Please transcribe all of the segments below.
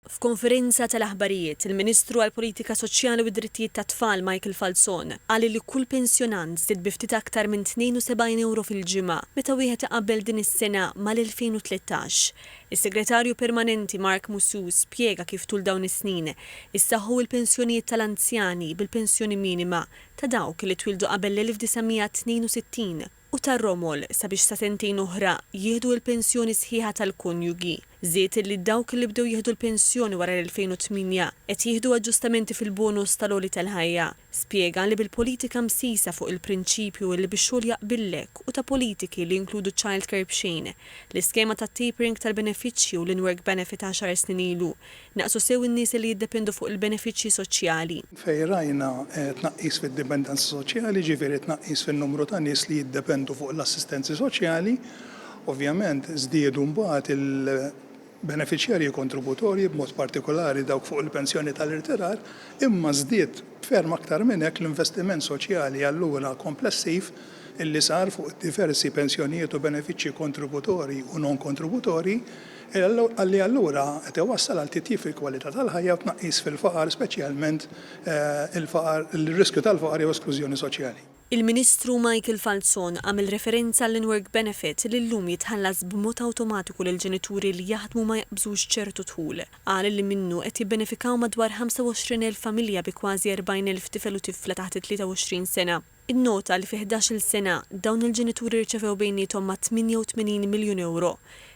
F'konferenza tal-aħbarijiet, il-Ministru għall-Politika Soċjali u d-Drittijiet tat-Tfal Michael Falzon qal li kull pensjonant żdied bi ftit aktar minn 72 ewro fil-ġimgħa meta wieħed iqabbel din is-sena mal-2013. Is-Segretarju Permanenti Mark Musù spjega kif tul dawn is-snin issaħħu l-pensjonijiet tal-anzjani bil-pensjoni minima ta' dawk li twieldu qabel l-1962. u tar-romol sabiex sa sentejn oħra jieħdu l-pensjoni sħiħa tal-konjugi. Żied illi dawk li bdew jieħdu l-pensjoni wara l-2008 qed jieħdu aġġustamenti fil-bonus tal-għoli tal-ħajja. Spjega li bil-politika msisa fuq il-prinċipju illi bix-xogħol jaqbillek u ta' politiki li jinkludu childcare b'xejn, l-iskema tat-tapering tal-benefiċċji u l-in-work benefit għaxar snin ilu, Naqsu sew in-nies li jiddependu fuq il-benefiċċji soċjali. Fejn rajna tnaqqis fid-dipendenza soċjali, jiġifieri tnaqqis fin-numru ta' nies li jiddependu fuq l-assistenzi soċjali, ovvjament żdiedu mbagħad il-benefiċjarji kontributorji, b'mod partikolari dawk fuq il-pensjoni tal-irtirar, imma żdied b'ferm aktar minn hekk l-investiment soċjali allura komplessiv li sar fuq diversi pensjonijiet u benefiċċji kontributorji u non-kontributorji, li allura qed iwassal għal titjib fil-kwalità tal-ħajja u tnaqqis fil-faqar, speċjalment il-faqar, ir-riskju tal-faqar jew esklużjoni soċjali. Il-Ministru Michael Falzon għamel referenza għall-in-work benefit li llum jitħallas b'mod awtomatiku lil ġenituri li jaħdmu ma jaqbżux ċertu dħul. Qal li minnu qed jibbenefikaw madwar 25,000 familja bi kważi 40,000 tifel u tifla taħt it-23 sena. Innota li fi ħdax-il sena, dawn il-ġenituri rċevew bejniethom ma' 88 miljun ewro.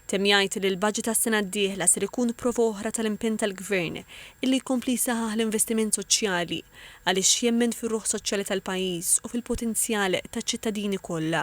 Temm jgħid li l-baġit għas-sena d-dieħla ser ikun prova oħra tal-impenn tal-Gvern illi jkompli jsaħħaħ l-investiment soċjali għaliex jemmen fir-ruħ soċjali tal-pajjiż u fil-potenzjal taċ-ċittadini kollha.